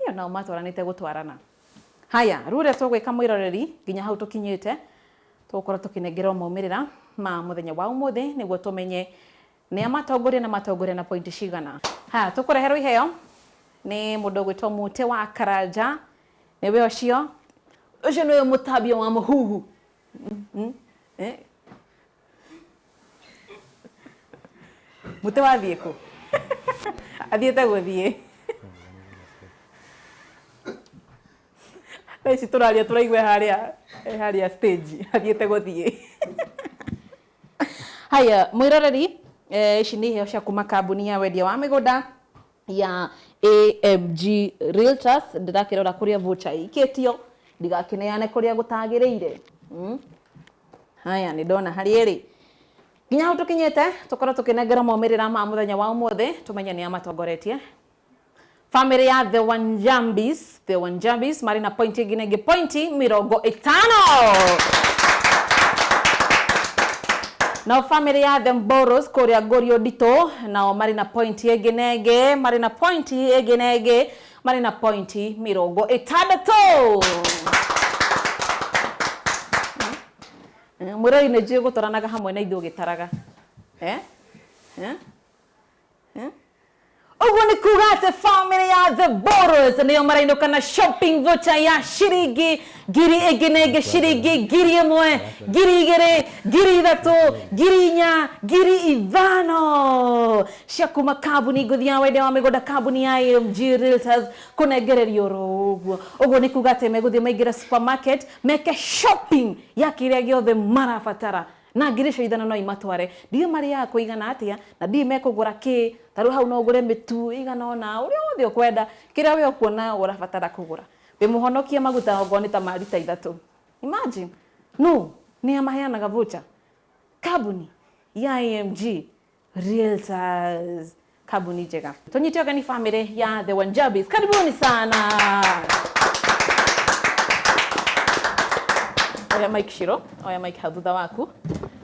Ĩyo nao matwaranĩte gũtwarana. Haya, rĩu ũrĩa tũgwĩka mwĩroreri nginya hau tũkinyĩte, tũgũkorwo tũkĩnengerwo maumĩrĩra ma mũthenya wa ũmũthĩ nĩguo tũmenye nĩa matongoria na matongoria na pointi cigana. Haya, tũkũreherwo iheo nĩ mũndũ ũgwĩtwo Mũtĩ wa Karanja, nĩwe ũcio. Ũcio nĩwe mũtambia wa mũhuhu. mũtĩ wathiĩ kũ athiĩte gũthiĩ thaa ici tũraria tũraigua harĩa harĩa stage athiĩte gũthiĩ haya mwiroreri eh, ici nĩ iheo cia kuma kambuni ya wendia wa mĩgũnda ya AMG Realtors ndirakirora kuria voucher ikitio ndigakineane kuria gutagirire mm? haya ni ndona hari iri nginya hau tukinyite tukorwo tukinengera maumĩrĩra ma mũthenya wa ũmũthĩ tumenye nĩ amatongoretie famĩlĩ ya the wanjambis Theo Wanjabis marĩ na pointi ĩngĩ na ingĩ pointi mĩrongo ĩtano nao famĩlĩ ya the mboros kũrĩa ngũrio nditũ nao marĩ na pointi ĩngĩ na ĩngĩ marĩ na pointi ĩngĩ na ĩngĩ marĩ na pointi mĩrongo ĩtandatũ mwĩrori nĩ njũĩ gũtwaranaga hamwe na ithuĩ ũgĩtaraga eh? Eh? ũguo nĩ kuga atĩ bamĩrĩ ya the boros nĩyo marainũka na shopping voucher ya ciringi ngiri ĩngĩ na ĩngĩ ciringi ngiri ĩmwe ngiri igĩrĩ ngiri ithatũ ngiri inya ngiri ithano cia kuma kambuni ngũthi ya wende wa mĩgũnda kambuni ya AMG Realtors kũnengererio oro ũguo ũguo nĩ kuga atĩ megũthiĩ maingĩre supermarket meke shopping ya kĩrĩa gĩothe marabatara Na ngiri cia ithano no imatware. Ndiũĩ marĩaga kũigana atĩa, na ndiũĩ mekũgũra kĩĩ. Ta rĩu hau no ũgũre mĩtu ĩigana ũna, ũrĩa wothe ũkwenda, kĩrĩa wee ũkuona ũrabatara kũgũra. Ndĩmũhonokie maguta okorwo nĩ ta ma rita ithatũ. Imagine! Nũ? Nĩa maheanaga voucher? Kambuni? Ya AMG? Realtors. Karibuni tena. Tony Tioga ni family ya The Wanjabis. Karibuni sana. Oya Mike Shiro, oya Mike Hadudha waku.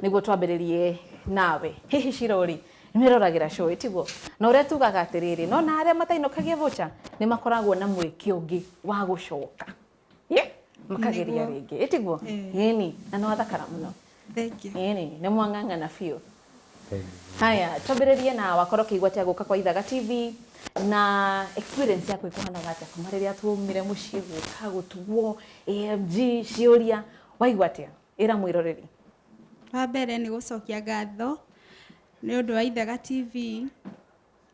Niguo twambĩrĩrie nawe. Hihi Shiro rĩ, nĩwĩroragira show ĩtiguo. Na ũrĩa tugaga atĩrĩrĩ, no na arĩa matainũkagia vocha nĩ makoragwo na mweke ũngĩ wa gũcoka. Ĩ, makageria Nĩguo. rĩngĩ ĩtiguo Ĩĩ. ĩni na nĩ wathakara mũno Thank you. ĩni nĩ mwang'ang'ana biũ haya twambĩrĩrie na wakorwo ũkĩigua atĩa gũka kwa ithaga tv na experience yaku ĩkũhanaga atĩa kuma rĩrĩa twaumire mũciĩ gũka gũtuguo amg ciũria waigua atĩa ĩra mwĩroreri Wa mbere nĩ gũcokia ngatho nĩ ũndũ wa Ithaga TV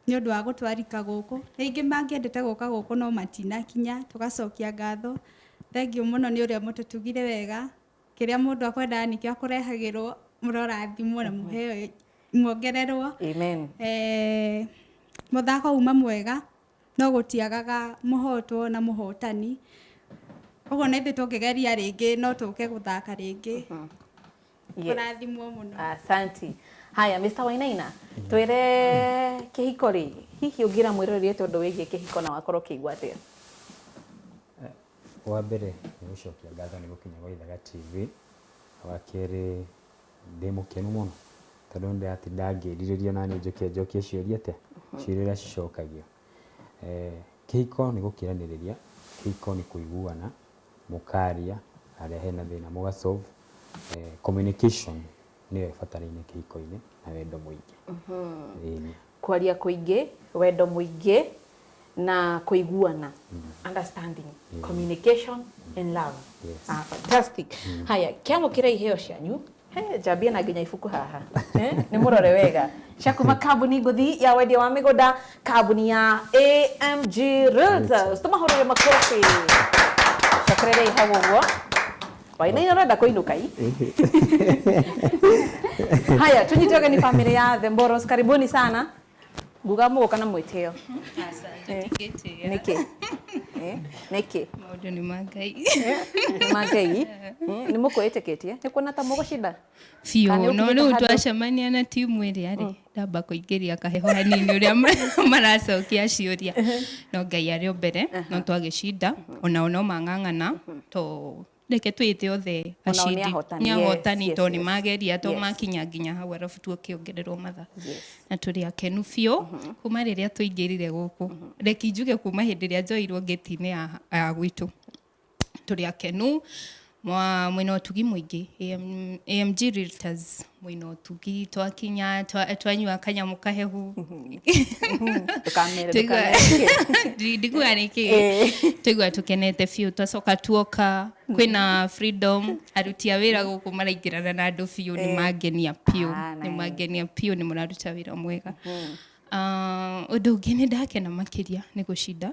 nĩ ũndũ wa gũtwarika gũkũ. Rĩngĩ mangĩendete gũka gũkũ no matinakinya, tũgacokia ngatho. Thengiũ mũno nĩ ũrĩa mũtũtugire wega, kĩrĩa mũndũ akwendaga nĩkĩo akũrehagĩrwo, mũrorathimwo na mũheo muongererwo. Amen. Eh, mũthako uma mwega no gũtiagaga mũhotwo na mũhotani. Ũguo na ithuĩ tũngĩgeria rĩngĩ no tũke gũthaka rĩngĩ. Yes. kũrathimwo mũno Asante. Haya, Mr. Wainaina, twĩre kĩhiko rĩ, hihi ũngĩra mwĩroreri witũ ũndũ wĩgiĩ kĩhiko na wakorwo ũkĩigua atĩa? wa mbere nĩ gũcokia ngatho nĩ gũkinya gwa Ithaga TV, wa kerĩ ndĩ mũkenu mũno tondũ nĩ ndĩratinda ngĩrirĩria naniĩ njoke njokie ciũria te ciũria ũrĩa cicokagio. Kĩhiko nĩ gũkĩranĩrĩria, kĩhiko nĩ kũiguana, mũkaria harĩa hena thĩna mũga solve. Communication nĩyo ĩbataire kĩhiko-inĩ na wendo mũingĩ. Kwaria kũingĩ, wendo mũingĩ na kũiguana, understanding, communication and love. Fantastic. Haya, kĩamũkĩra iheo cianyu. He, njambie na nginya ibuku haha Eh, nĩ mũrore wega cia kuma kambuni ngũthi ya wendia wa mĩgũnda kambuni ya amg realtors tũmahũrĩre makobi cokererei hau ũguo wainaina ũrenda kũinũka i haya tũnyite ũgeni bamĩrĩ ya the mboros karibuni sana nguga mũgũka na mwĩtĩo nĩkĩ Eh, nĩkĩ maũndũ nĩ ma ngai nĩ ma ngai nĩ mũkwĩĩtĩkĩtie nĩ kuona ta mũgũcinda biũ Kana no ũkinyĩte rĩu handũ- twacemania na timu ĩrĩa rĩ ndamba kũingĩria kaheho hanini ũrĩa ma- maracokia ciũria no ngai arĩ o mbere no twagĩcinda onao no mang'ang'ana to reke twĩte othe acindi nĩ ahotani tondũ nĩ mageria to makinya nginya hau arabu tũkĩongererwo matha na tũrĩ akenu biũ mm-hmm. kuma rĩrĩa tũingĩrire gũkũ mm-hmm. reki njuge kuma hĩndĩ ĩrĩa njoirwo ngĩti-inĩ ya gwitũ tũrĩ akenu mwĩna ũtugi mũingĩ AMG Realtors mwĩna ũtugi twakinya twa- twanyua kanyamũ kahehu Ndũkamere, Tũigua- ndũkamere. Ndi- ndikuga nĩ kĩ Eh. twaigua tũkenete biũ twacoka tuoka kwĩna freedom aruti a wĩra gũkũ maraingĩrana na andũ biũ nĩ mangenia biũ Ah, nĩ nice. mangenia biũ nĩ mũraruta wĩra mwega Ah, ũndũ ũngĩ nĩ ndakena makĩria nĩ gũcinda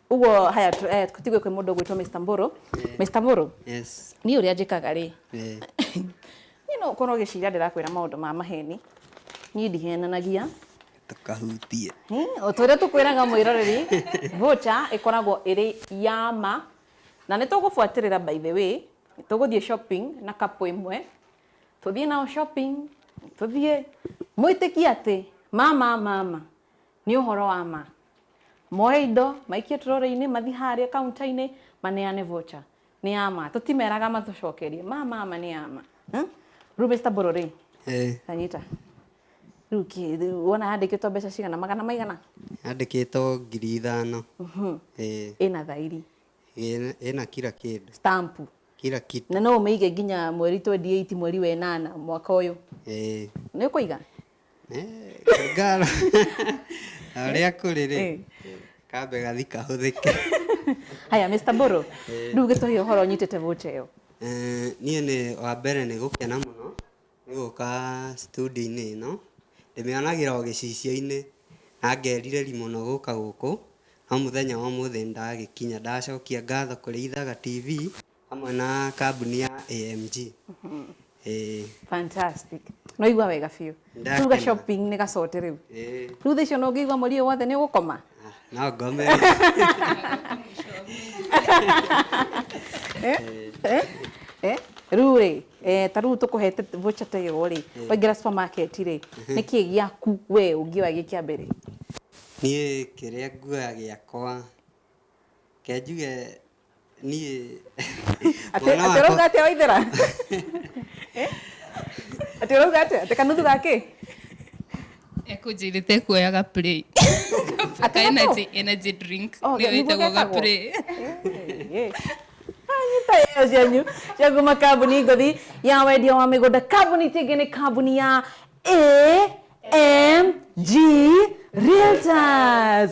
Uguo haya tu- eh, tũtigue kwĩ mũndũ ũgwĩtwo Mr. Mbũrũ. Mr. Mbũrũ, Yes. niĩ ũrĩa njĩkaga rĩ, Eh. niĩ no ũkorwo ũgĩciria ndĩrakwĩra maũndũ ma maheni. Niĩ ndihenanagia. Tũkahutie. Hmm, o ta ũrĩa tũkwĩraga mwĩroreri vocha ĩkoragwo ĩrĩ ya ma na nĩ tũgũbuatĩrĩra by the way nĩ tũgũthiĩ shopping na kapu ĩmwe tũthiĩ nao shopping tũthiĩ mwĩtĩkie atĩ mama mama Nĩ ũhoro wa ma. Moe indo, maikie tũrori-inĩ, mathiĩ harĩa kaunta-inĩ, maneane voucher. Nĩ ya ma. Tũtimeraga matũcokerie. Ma ma ma nĩ ya ma. Rĩu Mister Mbũrũ rĩ, ta nyita. Rĩu kĩ, rĩu wona yandĩkĩtwo mbeca cigana? Magana maigana? Yandĩkĩtwo ngiri ithano. Ĩĩ. Ĩna thairi? Ĩĩ, ĩna kira kĩndũ. Stamp? Kira kitu. Na no ũmĩige nginya mweri twenty eight, mweri wa ĩnana, mwaka ũyũ? Ĩĩ. Nĩ ũkũiga? ngara arĩa kũrĩ rĩ Eh. kambe gathi kahũthĩke haya mr boro rä u gä tå he å horo nyitä te vå tä yo Eh, niĩ nĩ wa mbere nĩ gũkena mũno nĩ gũka studio-inĩ ĩno ndĩmĩonagĩra o gĩcicio-inĩ na ngerirĩri mũno gũka gũkũ no mũthenya wa ũmũthĩ nĩ ndagĩkinya ndacokia ngatho kũrĩ ithaga tv hamwe na kambuni ya AMG. Ĩĩ. Fantastic. Nĩ waigua wega biũ. Ndakena. Tuga shopping nĩ gacote rĩu. Ĩĩ. Rĩu thaa icio no ũngĩigua mweri ũyũ wothe nĩ ũgũkoma? Ah, No ngome. Eh? Eh? Eh? Rĩu rĩ, eh, ta rĩu tũkũhete voucher ta ĩyo rĩ, waingĩra supermarket rĩ, nĩ kĩĩ gĩaku we ũngĩoya gĩ kĩa mbere? Niĩ kĩrĩa nguoya gĩakwa, reke njuge Niĩ... Atĩ Mwana atĩ wakwa- ũrauga atĩa waithera? Eh? Atĩ ũrauga atĩa? Atĩ kanuthu ga kĩ? ekũnjĩrĩte kuoyaga play Ka Atĩ energy- energy drink Oh, nĩyo nĩguo ĩtagwo getagwo? gaplay anyita ĩyo cianyu cia kuma kambuni ngothi ya wendia wa mĩgũnda kambuni ti ĩngĩ nĩ kambuni ya amg realtors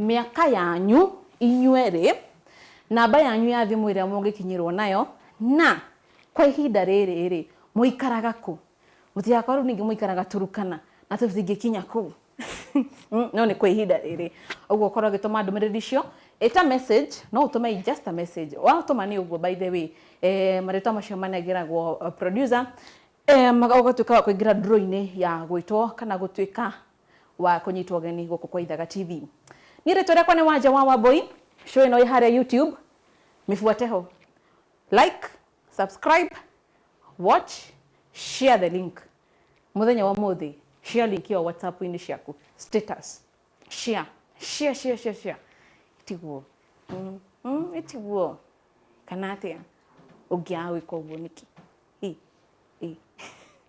mĩaka yanyu inyuerĩ, namba yanyu ya thimũ ĩrĩa mũngĩkinyĩrwo nayo, na kwa ihinda rĩrĩ-rĩ, mũikaraga kũ? Mũtigakorwo rĩu ningĩ mũikaraga Turkana na tũtingĩkinya kũu. No nĩ kwa ihinda rĩrĩ. Ũguo ũkorwo ũgĩtũma ndũmĩrĩri icio ĩta message, no ũtũme i just a message. Watũma nĩ ũguo by the way, marĩtwa macio manengeragwo producer, ũgatuĩka wa kũingĩra draw-inĩ ya gwĩtwo kana gũtuĩka wa kũnyitwo ũgeni gũkũ kwa Ithaga TV. Niĩ rĩtwa rĩakwa nĩ Wanja wa Wambũi, show ĩno ĩ harĩa YouTube, mĩbuate ho. Like, subscribe, watch, share the link. Mũthenya wa ũmũthĩ, share link ĩyo WhatsApp-inĩ ciaku, status, share, share, share, share, share. Tiguo, mm, mm, ĩtiguo, kana atĩa, ũngĩaga gwĩka ũguo nĩkĩ? Ĩ, ĩ.